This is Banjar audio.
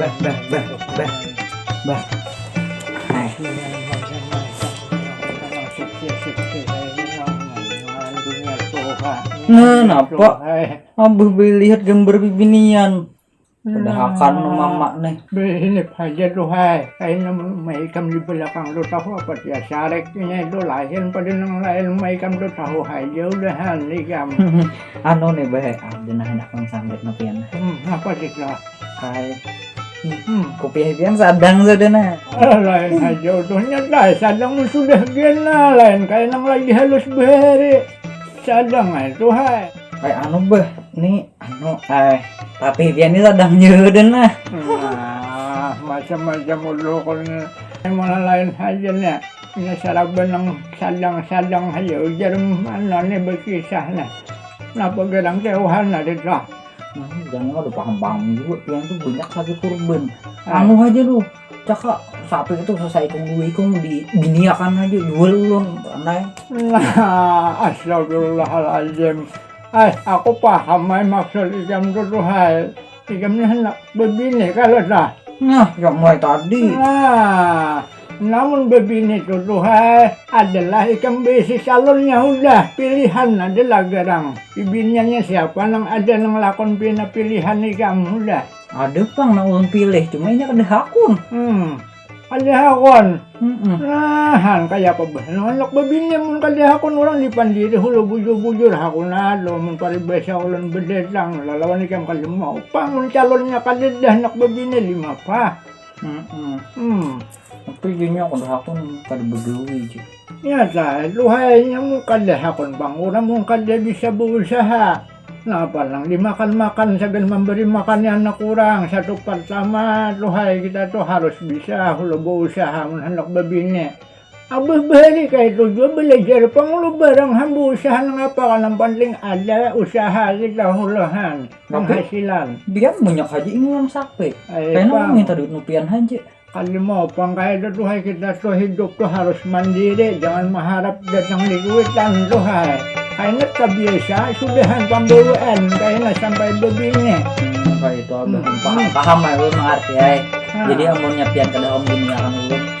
Bah, bah, bah, bah, bah. Hai. Nah, napa? Abah lihat gambar bibinian. Padahal kan nah. mama nih. Ini aja tuh hai. Kayaknya maikam di belakang tuh tahu apa dia sareknya itu lain pada nang lain maikam tuh tahu aja udah hal nih kamu. anu nih bahe ah dina hendak nang sambit no pian hmm apa kita kai hmm kupiah pian sadang sudah nah eh, lain aja utuhnya kai sadang mun sudah gen nah lain kai nang lagi halus bahari sadang ay tuh hai ay anu beh nih anu ay tapi pian ini sadang sudah nah nah macam-macam utuh kon malah lain aja nih Inya saraban nang sadang-sadang haja ujar Manan nih bakisah nih. Napa garang keohan tadi tuh? Jangan ada paham-paham juga pian tuh banyak saja kurban. Ah. Anu aja tuh, cakak sapi itu selesai ikung dua ikung dibiniakan aja jual ulun anai. Nah, astagfirullahalazim. Eh, aku paham ai maksud ikam tuh tuh hai. Ikam nih hendak bebini kalau dah. Nah, yang mulai tadi. Nah. Namun bebini tu tuhai adalah ikam beisi calonnya hudah, pilihan adalah garang. Bibiniannya siapa nang ada nang lakon pina pilihan ikam hudah? Ada pang nang ulun pilih, cuma inya kada hakun. Hmm, kada hakun. Hmm. Nah, han kaya apa bah nang handak bebini mun kada hakun urang di pandiri hulu bujur-bujur hakun ado mun paribasa ulun bedatang lalawan ikam kada mau pang mun calonnya kadada handak bebini lima pah. Hmm, hmm, hmm. Tapi gini aku dah aku kada begawi je. Ya dah, luhainya mu kada hakun bang, orang mu kada bisa berusaha. Napa nang dimakan-makan sambil memberi makan anak orang satu pertama luhai kita tuh harus bisa hulu berusaha mun hendak bebini. Abah bahari kayatu jua balajar pang lu barang hamba usaha nang apa kah nang panting ada usaha lagi tahu lo han penghasilan. Pian munyak haja ini yang sape. Kayana mau minta duit nu pian haja. Kada mau pang kayatu tuh hai kita tuh hidup tuh harus mandiri jangan maharap datang di kuitan tuh hai. Kayana tabiasa sudahan pambawaan kayana sampai babini. Hmm, kaya itu abah hmm. paham paham aku mengerti hai. Jadi amunnya pian kada kamu duniakan ulun